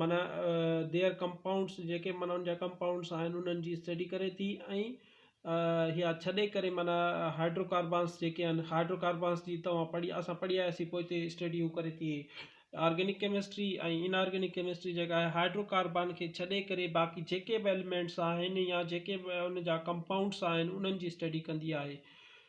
معنيٰ Their Compounds جيڪي معنيٰ ان جا ڪمپائونڊس آهن انهن جي اسٽڊي ڪري ٿي ۽ يا ڇڏي ڪري معنيٰ هائڊرو ڪاربانس جيڪي آهن هائڊرو ڪاربانس جي توهان پڙهي اسان پڙهي آياسين پوء تي اسٽڊي هو ڪري ٿي organic chemistry ۽ inorganic chemistry جيڪا آهي هائڊرو ڪاربان کي ڇڏي ڪري باقي جيڪي به ايلمينٽس آهن يا جيڪي به ان جا ڪمپائونڊس آهن انهن جي اسٽڊي ڪندي آهي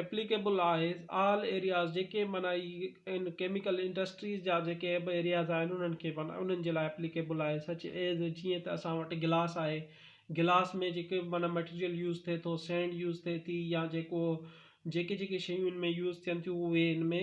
ايپليڪيبل آهي آل ايرياز جيڪي معنيٰ ان ڪيميڪل انڊسٽريز جا جيڪي به ايرياز آهن انهن کي معنيٰ انهن جي لاء ايپليڪيبل آهي سچ ايز جيئن ته اسان وٽ گلاس آهي گلاس ۾ جيڪي به معنيٰ ميٽيريل يوز ٿئي ٿو سينڊ يوز ٿئي ٿي يا جيڪو جيڪي جيڪي شيون ان ۾ يوز ٿين ٿيون اهي ان ۾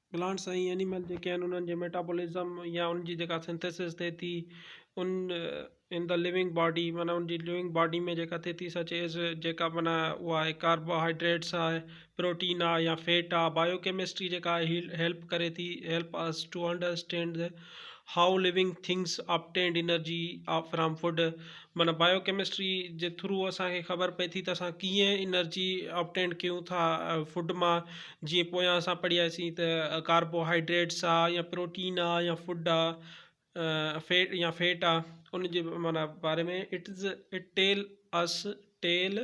پلانٽس ۽ اينيمل جيڪي آهن انهن جي ميٽابولزم يا ان جي جيڪا سنٿيسز ٿئي ٿي ان ان دا لوئنگ باڊي معنيٰ ان جي لوئنگ باڊي ۾ جيڪا ٿئي ٿي سچ ايز جيڪا معنيٰ اها آهي ڪاربوهائيڊريٽس آهي پروٽين آهي يا فيٽ آهي بايو ڪيمسٽري جيڪا آهي هيلپ ڪري ٿي help us to understand how living things obtain energy from food معنيٰ بايو ڪيمسٽري جي ٿرو اسان کي خبر پئي ٿي ته اسان ڪيئن انرجي آبٽينڊ ڪيون ٿا فوڊ مان جيئن پويان اسان پڙهياسين ته ڪاربو هائيڊريٽس آ يا پروٽين آ يا فوڊ آ فيٽ يا فيٽ آ ان جي معنيٰ باري ۾ it is it tell us tell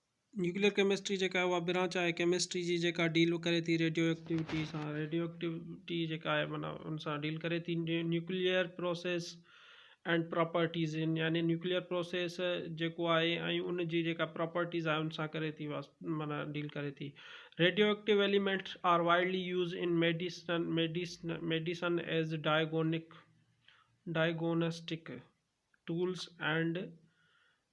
nuclear chemistry جيڪا اها برانچ آهي ڪيمسٽري جي جيڪا ڊيل ڪري ٿي ريڊيو ايڪٽيوٽي سان ريڊيو ايڪٽيوٽي جيڪا آهي معنيٰ ان سان ڊيل ڪري ٿي نيوڪليئر پروسيس اينڊ پراپرٽيز ان يعني نيوڪليئر پروسيس جيڪو آهي ۽ ان جي جيڪا پراپرٽيز آهي ان سان ڪري ٿي معنيٰ ڊيل ڪري ٿي radioactive elements are widely used in medicine medicine medicine as diagnostic diagnostic tools and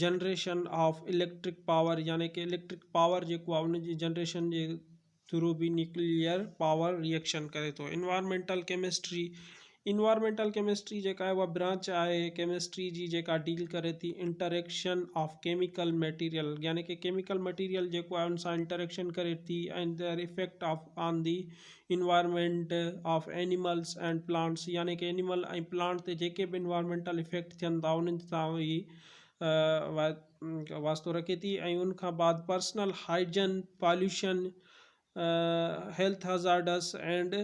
generation of electric power يعني ڪه اليڪٽرڪ پاور جيڪو آهي ان جي جنريشن جي ٿرو به نيوڪليئر پاور ريئڪشن ڪري ٿو انوائرمينٽل ڪيمسٽري انوائرمينٽل ڪيمسٽري جيڪا آهي اها برانچ آهي ڪيمسٽري جي جيڪا ڊيل ڪري ٿي انٽريڪشن آف ڪيميڪل ميٽيريل يعني ڪه ڪيميڪل ميٽيريل جيڪو آهي ان سان انٽريڪشن ڪري ٿي ۽ their effect of on the environment of animals and plants يعني ڪي اينيمل ۽ پلانٽ تي جيڪي به انوائرمينٽل افيڪٽ ٿين ٿا انهن سان هي واسطو رکي ٿي ۽ ان کان بعد personal hygiene pollution health hazards and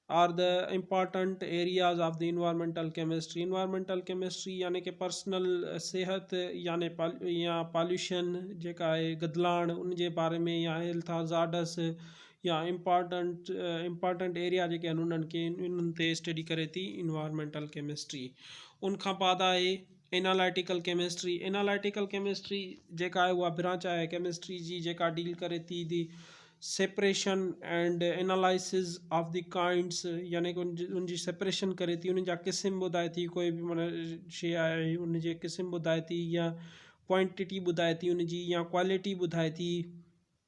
are the important areas of the environmental chemistry environmental chemistry يعني ڪي پرسنل صحت يعني يا پاليوشن جيڪا آهي گدلاڻ ان جي باري ۾ يا هيلٿ هزارڊس يا امپارٽنٽ امپارٽنٽ ايريا جيڪي آهن انهن کي انهن تي اسٽڊي ڪري ٿي انوائرمينٽل ڪيمسٽري ان کان بعد آهي انالائيٽيڪل ڪيمسٽري انالائيٽيڪل ڪيمسٽري جيڪا آهي اها برانچ آهي ڪيمسٽري جي جيڪا ڊيل ڪري ٿي the separation and analysis of the kinds يعني ڪي ان جي ان جي سيپريشن ڪري ٿي ان جا قسم ٻڌائي ٿي ڪوئي بي معنيٰ شيء آهي ان جي قسم ٻڌائي ٿي يا ڪوانٽيٽي ٻڌائي ٿي ان جي يا ڪواليٽي ٻڌائي ٿي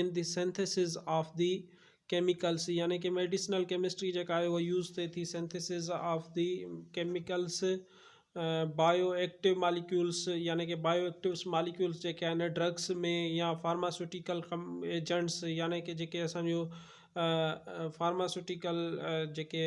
in the synthesis of the chemicals يعني ڪي ميڊيسنل ڪيمسٽري جيڪا آهي اها يوز ٿئي ٿي synthesis of the chemicals bioactive molecules يعني ڪي بايو ايڪٽوس ماليڪيولس جيڪي آهن ڊرگس ۾ يا فارماسيوٽيڪل ايجنٽس يعني ڪي جيڪي اسانجو فارماسيوٽيڪل جيڪي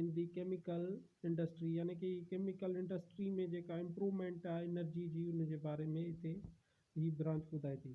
ان جي ڪيميڪل انڊسٽري يعني ڪي ڪيميڪل انڊسٽري ۾ جيڪا امپروومينٽ آهي انرجي جي ان جي باري ۾ اتي هي برانچ ٻڌائي ٿي.